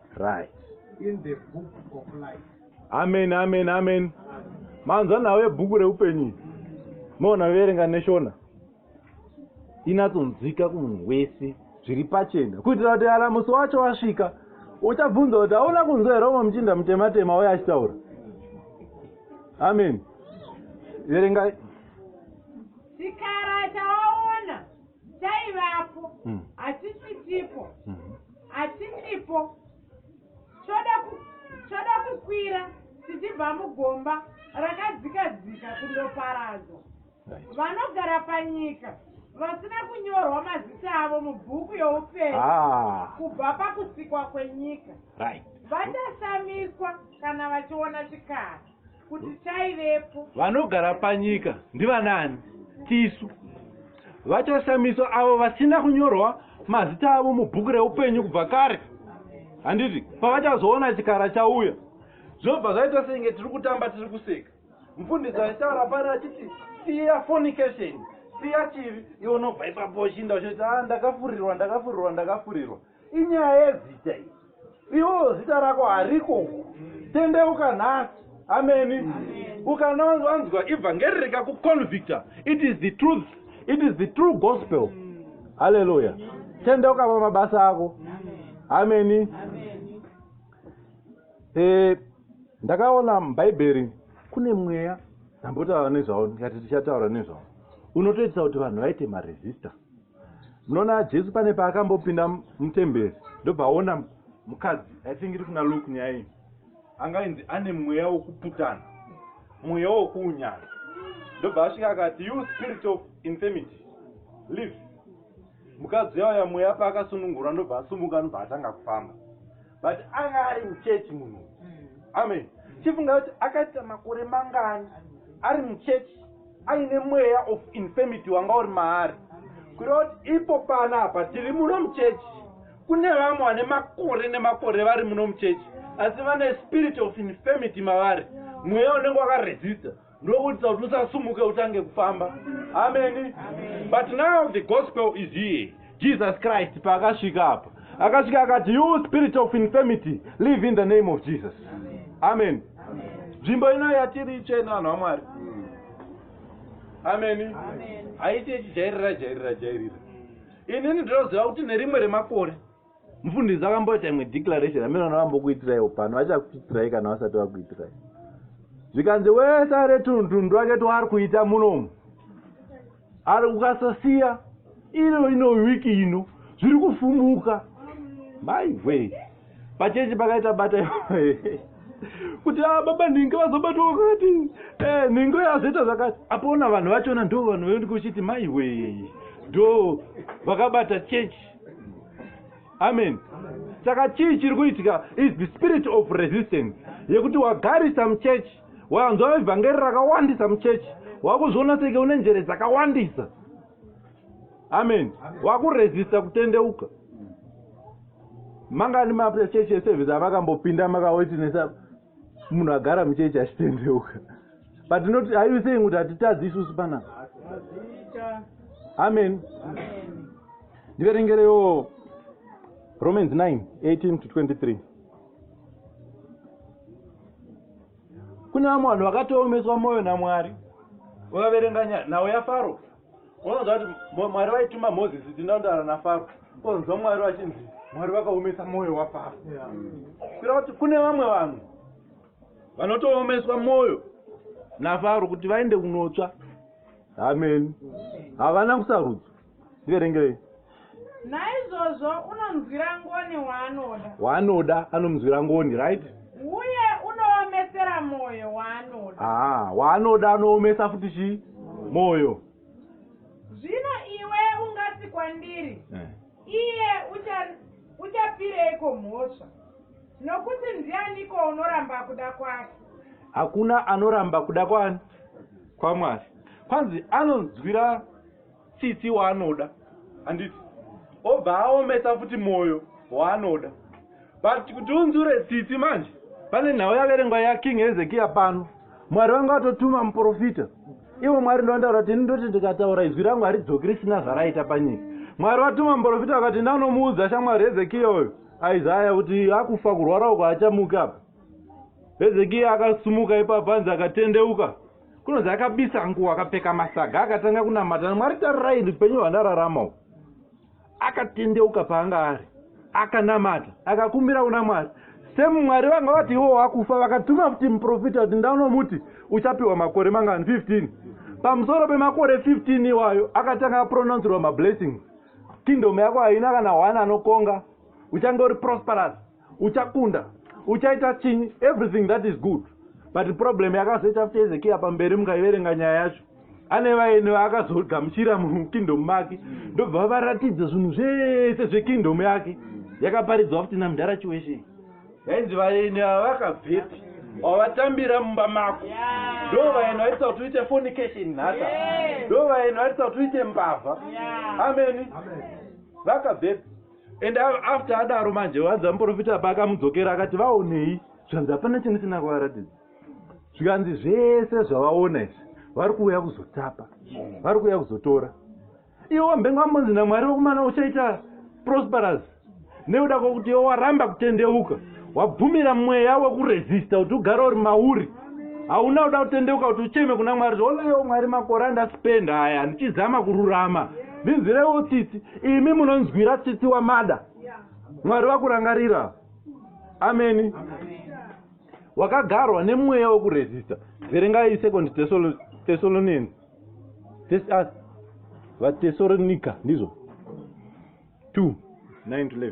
right in the book of life amen amen amen manzwa nhau yebhuku reupenyu iyi moona verenga neshona inatsonzwika kumunhu wese zviri pachena kuitira kuti kana musi wacho wasvika uchabvunza kuti hauna kunzwa here umwe muchinda mutematema uye achitaura amen verengai chikara chaona Chaivapo, mm. hachichitipo, mm. hachichipo. Choda ku, choda kukwira tichibva mugomba rakadzika dzika kundoparadzwa. Right. Vanogara panyika vasina kunyorwa mazita avo mubhuku youpenyu ah. kubva pakusikwa kwenyika right. vachashamiswa kana vachiona chikara kuti taivepo vanogara panyika ndivanaani tisu vachashamiswa avo vasina kunyorwa mazita avo mubhuku reupenyu kubva kare handiti pavachazoona chikara chauya zvobva zvaita senge tiri kutamba tiri kuseka mfundisi aitaura pari achiti siya fornication siya chivi iwo nobva ipapo uchinda uchiti a ah, ndakafurirwa ndakafurirwa ndakafurirwa inyaya yezita iyi iwo zita rako hariko uku tendeuka nhasi ameni ukana wanzwa evhangeri rikakuconvicta it is the truth it is the true gospel halleluya tendeuka pamabasa ako ameni e, ndakaona mubhaibheri kune mweya ndambotaura nezvavo ndikati tichataura nezvavo unotoitisa kuti vanhu vaite maresista munoona jesu pane paakambopinda mutemberi ndobva aona mukadzi i think iri kuna luk nyaya iyi anga inzi ane mweya wokuputana mweya wokuunyana ndobva asvika akati you spirit of infirmity live mukadzi yauya mweya paakasunungura ndobva asumuka anobva atanga kufamba but anga ari muchechi munhu amen chifunga kuti akaita makore mangani ari muchechi aine mweya of infirmity wanga uri maari kureva kuti ipo pana apa tiri muno muchechi kune vamwe vane makore nemakore vari muno muchechi asi vane spirit of infirmity mavari mweya unenge wakaresista ndokuitisa kuti usasumuke utange kufamba ameni but now the gospel is here jesus christ paakasvika apa akasvika akati you spirit of infirmity live in the name of jesus amen nzvimbo ino yatiri itsvene vanhu vamwari ameni haiti ichijairira jairira jairira inini ndinoziva kuti nerimwe remakore mufundisi akamboita imwe declaration amene vanorambokuitirai upano vachakuitirai kana vasati vakuitirai zvikanzi wese are tunhundu wake twaari kuita munomu ari ukasasiya ino ino wiki ino zviri kufumuka maihwei pachechi pakaita bata kuti a ah, baba nhingi vazobatwa vakati eh, nhingi uyo azoita zvakati apona vanhu vachona ndo vanhu vaendi kuchiti maihwei ndo vakabata chechi amen saka chii chiri kuitika is the spirit of resistance yekuti wagarisa muchechi wanzwa evhangeri rakawandisa muchechi wakuzviona senge une njere dzakawandisa amen wakuresista kutendeuka mangani machechi eservice avakambopinda makawetinesa munhu agara muchechi achitendeuka but not are you saying kuti hatitadzi isusu panapa amen ndiverengerewo romans 9 18 to 23 kune vamwe vanhu vakatoomeswa mwoyo namwari ukaverenga nhau yafaro unonzwa kuti mwari vaituma mozisi tindaundara nafaro onzwa mwari vachinzi mwari vakaomesa mwoyo wafaro kuira kuti kune vamwe vanhu vanotoomeswa mwoyo nafaro kuti vaende kunotsva amen havana kusarudzo ndiverengerei naizvozvo unonzwira ngoni waanoda waanoda anomzwira ngoni right uye unoomesera mwoyo waanoda ah, waanoda anoomesa futi chii mwoyo zvino iwe ungati kwandiri eh. iye uchapireiko mhosva nokuti ndianiko unoramba kuda kwake hakuna anoramba kuda kwani kwamwari kwanzi anonzwira tsitsi waanoda handiti obva aomesa futi mwoyo waanoda but kuti unzure tsitsi manje pane nhau yaverengwa yaking hezekiya pano mwari vanga vatotuma muprofita ivo mwari ndovandaura kuti ini ndoti ndikataura izwi rangu haridzoki risina zvaraita panyika mwari vatuma muprofita vakati ndanomuudza shamwari hezekiya uyo aizaya kuti akufa kurwara uko achamuka apa hezekiya akasumuka ipapo anzi akatendeuka kunonzi akabisa nguva akapfeka masaga akatanga kunamata mwari tarirai upenyu hwandararama u akatendeuka paanga ari akanamata akakumbira kuna mwari semwari vanga vati ivo wakufa vakatuma kuti muprofita kuti ndanomuti uchapiwa makore mangani 15 pamusoro pemakore 15 iwayo akatanga apronouncirwa mablessings kingdom yako haina kana one anokonga uchange uri prosperous uchakunda uchaita chinyi everything that is good but problem yakazoita futi ezekiya pamberi mukaiverenga nyaya yacho ane vaeni vaakazogamuchira mukingdom make ndobva varatidza zvinhu zvese zvekingdom yake yakaparidzwa futi namudhara chiweshe yainzi vaeni ava vakabvepi wavatambira mumba mako ndo vaeni vaitisa kuti uite fonication nhata ndo vaeni vaitisa kuti uite mbavha ameni vakabvepi and after adaro manje wanzi vamuprofita apa akamudzokera akati vaonei zvanzi hapana chinhu chisina kuvaratidza zvikanzi zvese zvavaona izvi vari kuuya kuzotapa vari kuuya kuzotora iwe wambenga wambonzi namwari wekumana uchaita prosperous neuda kwokuti iwe waramba kutendeuka wabvumira mweya wekuresista kuti ugare uri mauri hauna kuda kutendeuka kuti ucheme kuna mwari zvoleyo mwari makore andaspenda aya ndichizama kururama ndinzwirewo tsitsi imi munonzwira tsitsi wamada mwari vakurangarira ameni wakagarwa nemweya wekuresista verengai second thessalonians ah, vatesalonika ndizvo 2 9 11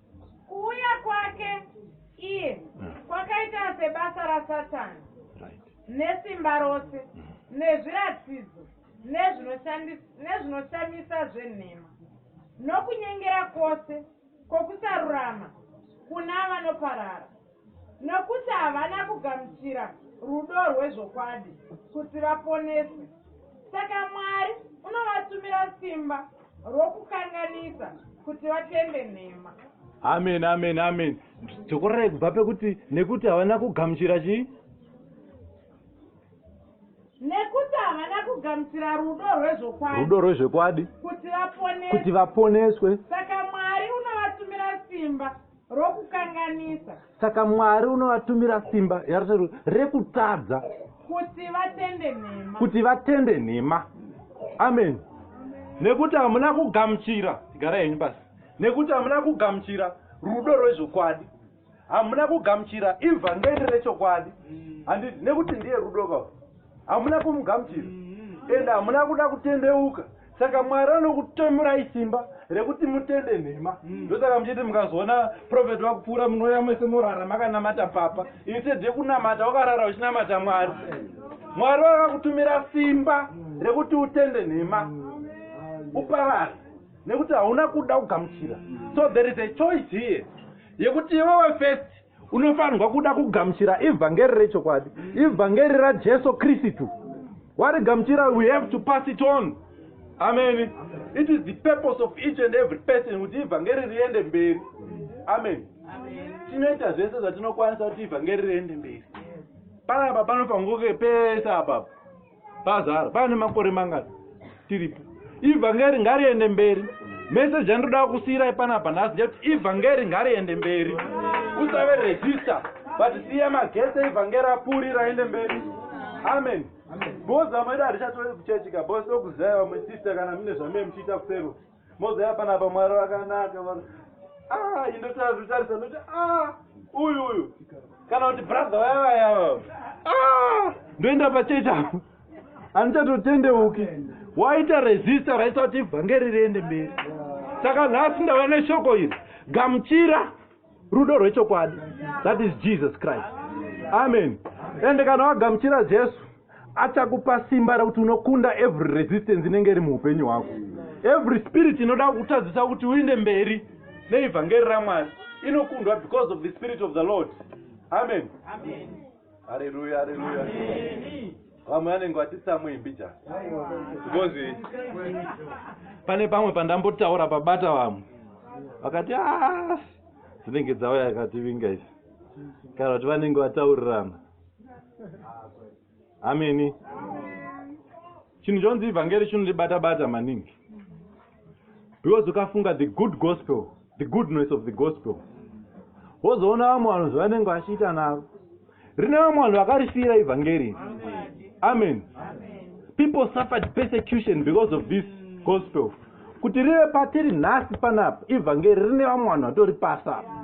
Kuuya kwake iye mm. kwakaita sebasa raSatani nesimba rose mm. nezviratidzo nezvinoshamisa zvenhema nokunyengera kwose kwokusarurama kuna vanoparara Nokuti havana kugamuchira rudo rwezvokwadi kuti vaponeswe. Saka Mwari unovatumira simba rokukanganisa kuti vatende nhema. Amen, amen, amen. Dzokorerai kubva pekuti nekuti havana kugamuchira chii? nekuti havana kugamuchira rudo rwezvokwadi rudo rwezvokwadi kuti vaponeswe saka mwari unovatumira simba rokukanganisa saka mwari unovatumira simba yarutsero rekutadza kuti vatende nhema kuti vatende nhema amen nekuti hamuna kugamuchira gara henyu basi nekuti hamuna kugamuchira rudo rwezvokwadi hamuna kugamuchira ivhangeri rechokwadi handiti nekuti ndiye rudo kau hamuna kumugamuchira mm-hmm. ende hamuna kuda kutendeuka saka mwari anokutomurai simba rekuti mutende nhema hmm. ndosaka mm. muchiti mukazoona profeti vakupfuura munouya mese morara makanamata papa instead kunamata wakarara uchinamata mwari mwari vakakutumira simba rekuti utende nhema uparare nekuti hauna kuda kugamuchira so there is a choice here yekuti iwewe first unofanirwa kuda kugamuchira ivhangeri rechokwadi ivhangeri rajesu kristu warigamuchira we have to pass it on amen it is the purpose of each and every person kuti ivhangeri riende mberi amen tinoita zvese zvatinokwanisa kuti ivhangeri riende mberi panapa panofangoke pese apapa pazara pane makore mangani tiripo ivhangeri ngariende mberi meseji andoda kusiirai panapa nhasi ndekuti ivhangeri ngariende mberi usave regista but siya magese ivhangeri apuri raende mberi amen bhozi vamwedu hatichatoe kuchechika bhozi tokuzivai vamwe sista kana mune zvamee muchiita kusero moziva panapa mwari vakanaka ah, indotaa zvitarisa noti ah, uyu uyu kana kuti brother vaya vayava ah, ndoenda pachechi apo handichatotendeuki waita resista raisa kuti vhangeri riende mberi saka nhasi ndava neshoko iri gamuchira rudo rwechokwadi that is jesus christ amen ende kana wagamuchira jesu achakupa simba rekuti unokunda every resistance inenge iri muupenyu hwako every spirit inoda kutadzisa kuti uinde mberi neevhangeri ramwari inokundwa because of the spirit of the lord amen, amen. Hallelujah, hallelujah. Vamwe vanenge vatisa muimbi just. Because pane pamwe pandambotaura pabata vamwe vakati ah dzinenge dzauya yakativinga izi kana kuti vanenge vataurirana ameni chinhu chonzi ivhangeri chinondibata bata maningi because ukafunga the good gospel the goodness of the gospel wozoona vamwe vanhu zvavanenge vachiita naro rine vamwe vanhu vakarifira ivhangeri amen people suffered persecution because of this gospel kuti rive patiri nhasi panapa ivhangeri rine vamwe vanhu vatoripasa apa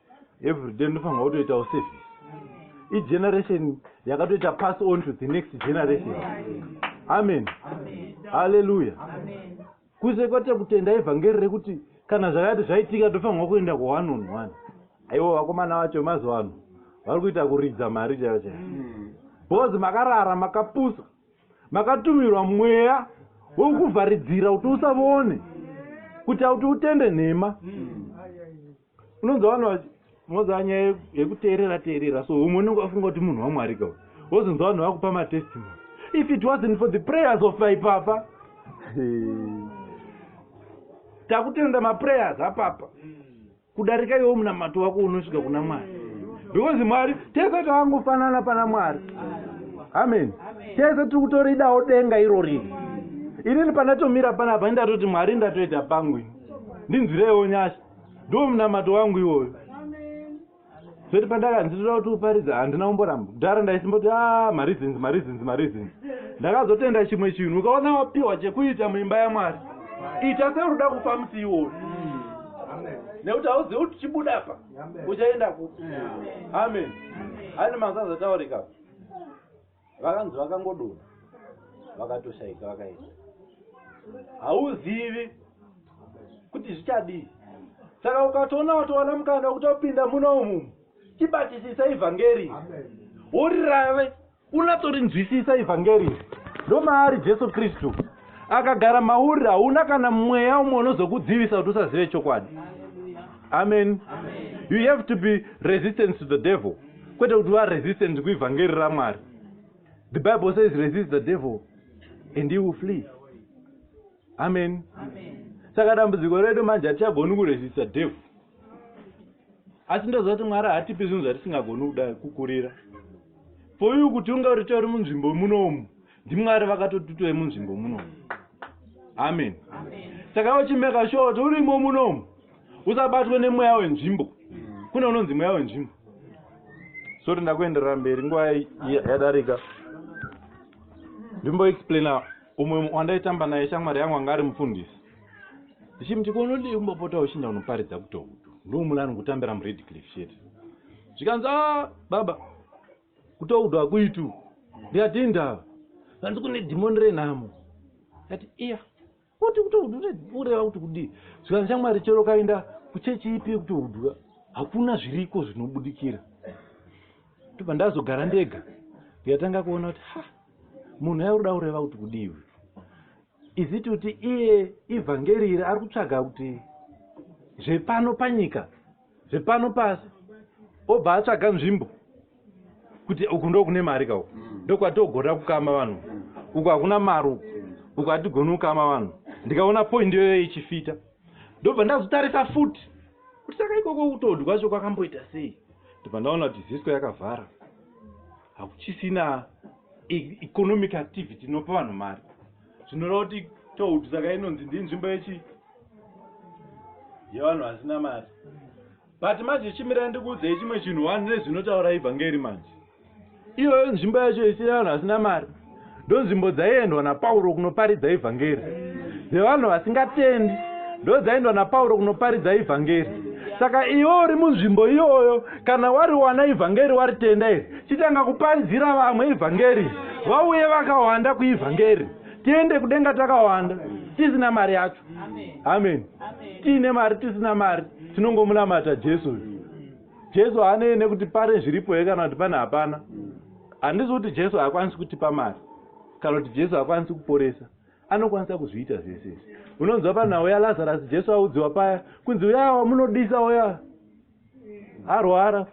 everyday ndinofanirwa kutoitawo service igeneration yakatoita pass on to the next generation amen haleluya kuse kwate kutenda evhangeri rekuti kana zvakati zvaitika tofanirwa kuenda kuone on one aiwo vakomana vacho mazuva ano vari kuita kuridza mari chaiyo chaiyo bcoz makarara makapusa makatumirwa mweya wekukuvharidzira kuti usavone kuita kuti utende nhema unonzwa vanhu vachi unonzwa nyaya yekuteerera teerera so umwe unenge wafunga kuti munhu wamwari ka wozonzwa vanhu vakupa matestimony if it wasn't for the prayers of ipapa takutenda maprayers apapa kudarika iwo munamato wako unosvika kuna mwari because mwari tese tavangofanana pana mwari amen tese tiri kutoridawo denga iro riri inini pandatomira panapa indatoti mwari ndatoita pangu ini ndinzwireiwo nyasha ndo munamato wangu iwoyo zvoti pandakanzi toda kuti uparidza handina kumboramba kudhara ndaisimboti a ah, mareasons mareasons mareasons ndakazotenda chimwe chinhu ukaona wapiwa chekuita muimba yamwari ita seuri uda kufa musi iwoyo nekuti hauzivi kuti chibuda apa uchaenda kupi amen ani mazazotaurika vakanzi vakangodonha vakatoshaika vakaenda hauzivi kuti zvichadii saka ukatoona watowana mukana wekuti upinda muna umumu chibatisisa ivhangeri worirave unatorinzwisisa ivhangeri ndomaari jesu kristu akagara mauri hauna kana mweya umwe unozokudzivisa kuti usazive chokwadi amen you have to be resistant to the devil kwete kuti varesistant kuivhangeri ramwari the bible says resist the devil and he will flee amen saka dambudziko redu manje hatichagoni kuresista devil asi ndoziva kuti mwari hatipi zvinhu zvatisingagoni kuda kukurira for you kuti unga uritori munzvimbo munoumu ndimwari vakatotutoe munzvimbo munomu amen saka iwe chimeka sure kuti urimo munomu usabatwe nemweya wenzvimbo kune unonzi mweya wenzvimbo soti ndakuenderera mberi nguva yadarika ndimboexplaina umwe wandaitamba naye shamwari yangu anga ari mufundisi ndichimuti konodii kumbopota uchinda unoparidza kutokuto ndoumulani kutambira muredcliff chete zvikanzi a ah, baba kutoudwa kuitu ndikati indava hanzi kune dhimoni renhamo ati iya kuti kutoureva kuti kudii zvikanzi chamwari chero kaenda kuchechi ipi kutoudwa hakuna zviriko zvinobudikira tobva ndazogara ndega ndikatanga kuona kuti ha munhu yaurida kureva kuti kudiwi iziti kuti iye ivhangeri iri ari kutsvaga kuti zvepano panyika zvepano pasi obva atsvaga nzvimbo kuti uku ndo kune mari ka uku mm. ndokwatogona kukama vanhu uku hakuna mari uku uku hatigoni kukama vanhu ndikaona point iyoyo ichifita ndobva ndazotarisa futi kuti saka ikoko kutodhi kwacho kwakamboita sei ndobva ndaona kuti zisco yakavhara hakuchisina e-, economic activity inopa vanhu mari zvinoreva kuti tohut saka inonzi ndinzvimbo yechi yevanhu vasina mari but manje chimira ndikuudzei chimwe chinhu wani nezvinotaura ivhangeri manje iyoyo nzvimbo yacho isina vanhu vasina mari ndonzvimbo dzaiendwa napauro kunoparidza ivhangeri dzevanhu vasingatendi ndodzaendwa napauro kunoparidza ivhangeri saka iwe uri munzvimbo iyoyo kana wariwana ivhangeri waritenda iri chitanga kuparidzira vamwe ivhangeri vauye vakawanda kuivhangeri tiende kudenga takawanda tisina mari yacho amen tiine mari tisina mari tinongomunamata jesu uyu jesu haanei nekuti pane zviripo here kana kuti pane hapana handisi kuti jesu haakwanisi kutipa mari kana kuti jesu haakwanisi kuporesa anokwanisa kuzviita zvese izvi unonzwa panhau yalazarasi jesu audziwa paya kunzi uyaa wamunodisa uyaa arwara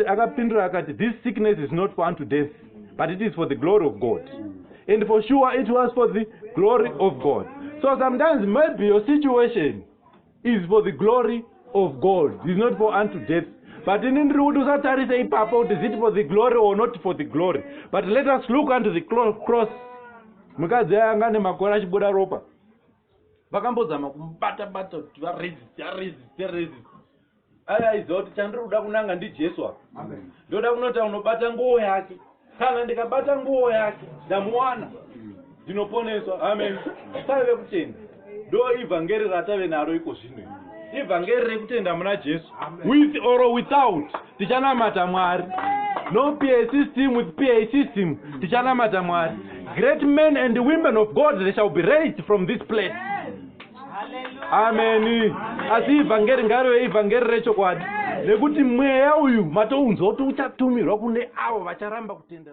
akapindura akati this sickness is not for unto death but it is for the glory of god and for sure it was for the glory of god so sometimes maybe your situation is for the glory of god is not for unto death but ini ndiri kuti usatarise ipapo kuti zit for the glory or not for the glory but let us look unto the cross mukadzi aya anga nemakore achibuda ropa vakambozama kumubata bata kuti varesist aresist resist ave aiziva kuti chandiri kuda kunanga ndijesu apa ndoda kunota unobata nguo yake kana ndikabata nguo yake ndamuwana ndinoponeswa amen taive kutenda ndo ivhangeri ratave naro iko zvino ivhangeri rekutenda muna jesu with or without tichanamata mwari no pa system with pa system tichanamata mwari great men and women of god they shall be raised from this place ameni asi ivhangeri ngarive ivhangeri rechokwadi nekuti mweya uyu matounzwa kuti uchatumirwa kune avo vacharamba kutenda